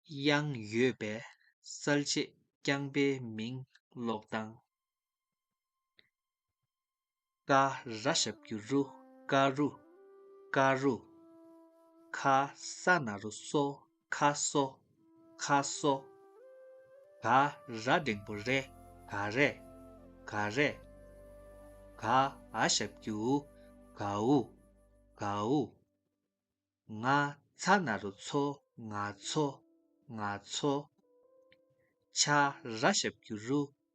དབྱངས་ཡོད་པས་གསལ་བྱེད་རྐྱང་པའི་མིང་ཀློག་སྟངས། ཀ་ར་ཞབས་ཀྱི་རུ་ཀ་རུ། ཀ་རུ། ཁ་ས་ན་རུ་སོ་ཁ་སོ། ཁ་སོ། ག་ར་འབྲིང་པོ་རེད་ག་རེད། ག་རེད། ག་ཨ་ཞབས་ཀྱིའུ་གའུ། གའུ། ང་ཚ་ན་རུ་ཚོ་ང་ཚོ། ང་ཚོ། ཆ་ར་ཞབས་ཀྱི་རུ་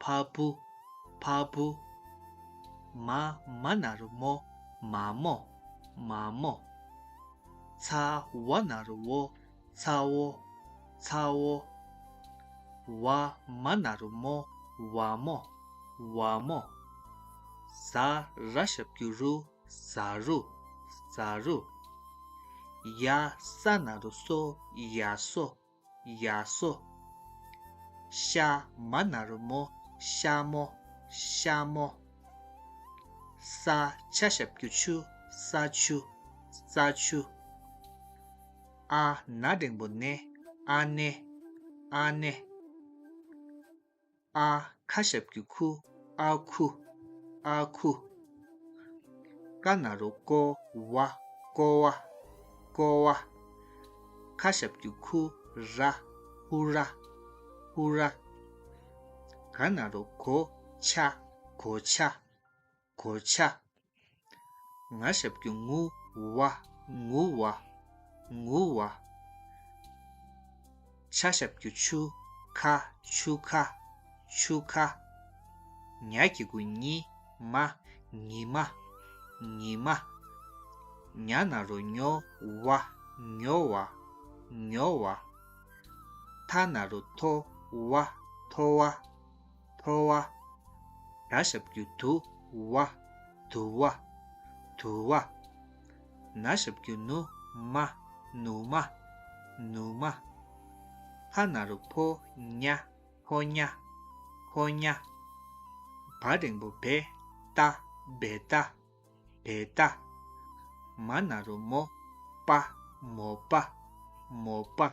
བ་བུ། བ་བུ། མ། མ་ན་རུ་མོ། མ་མོ། མ་མོ། ཚ་བ་ན་རུ་བོ། ཚ་བོ། ཚ་བོ། བ་མ་ན་རུ་མོ། བ་མོ། བ་མོ། ཟ་ར་ཤ་བརྒྱུད་རུ། ཟ་རུ། ཟ་རུ། ཡ་ས་ན་རུ་སོ། ཡ་སོ། ཡ་སོ། ཤ་མ་ནར་མོ་ཤ་མོ་ཤ་མོ། ས་ཆ་ཞབས་ཀྱུ་ཆུ་ས་ཆུ་ས་ཆུ། ཨ་ན་སྒྲེང་པོ་ནེ་ཨ་ནེ་ཨ་ནེ། ཨ་ཁ་ཞབས་ཀྱི་ཁུ་ཨ་ཁུ་ཨ་ཁུ། ཀ་ན་རུ་ཀོ་བ་ཀོ་བ་ཀོ་བ། ཁ་ཞབས་ཀྱི་ཁུ་ར་ཧུ་ར་ཧུ་ར། ག་ན་རུ་གོ་ཆ་གོ་ཆ། གོ་ཆ། ང་ཞབས་ཀྱི་ངུ་བ་ངུ་བ་ངུ་བ། ཆ་ཞབས་ཀྱི་ཆུ་ཁ་ཆུ་ཁ་ཆུ་ཁ། ཉྭ་ཀྱི་དགུ་ཉི་མ་ཉི་མ་ཉི་མ། ཉྭ་ན་རོ་ཉོ་བ་ཉོ་བ་ཉོ་བ། ཐ་ན་རོ་ཐོ་བ་ཐོ་བ། འཕོ་བ། དགྲ་ཞབས་ཀྱུ་དུ་བ། དུ་བ། དུ་བ། ན་ཞབས་ཀྱུ་ནུ་མ། ནུ་མ། ནུ་མ། ཕ་ན་རུ་ཕོ་ཉ། ཕོ་ཉ། ཕོ་ཉ། བ་རེང་པོ་བེ་ཏཱ། བེ་ཏཱ། བེ་ཏཱ། མ་ན་རུ་མོ་པ། མོ་པ། མོ་པ།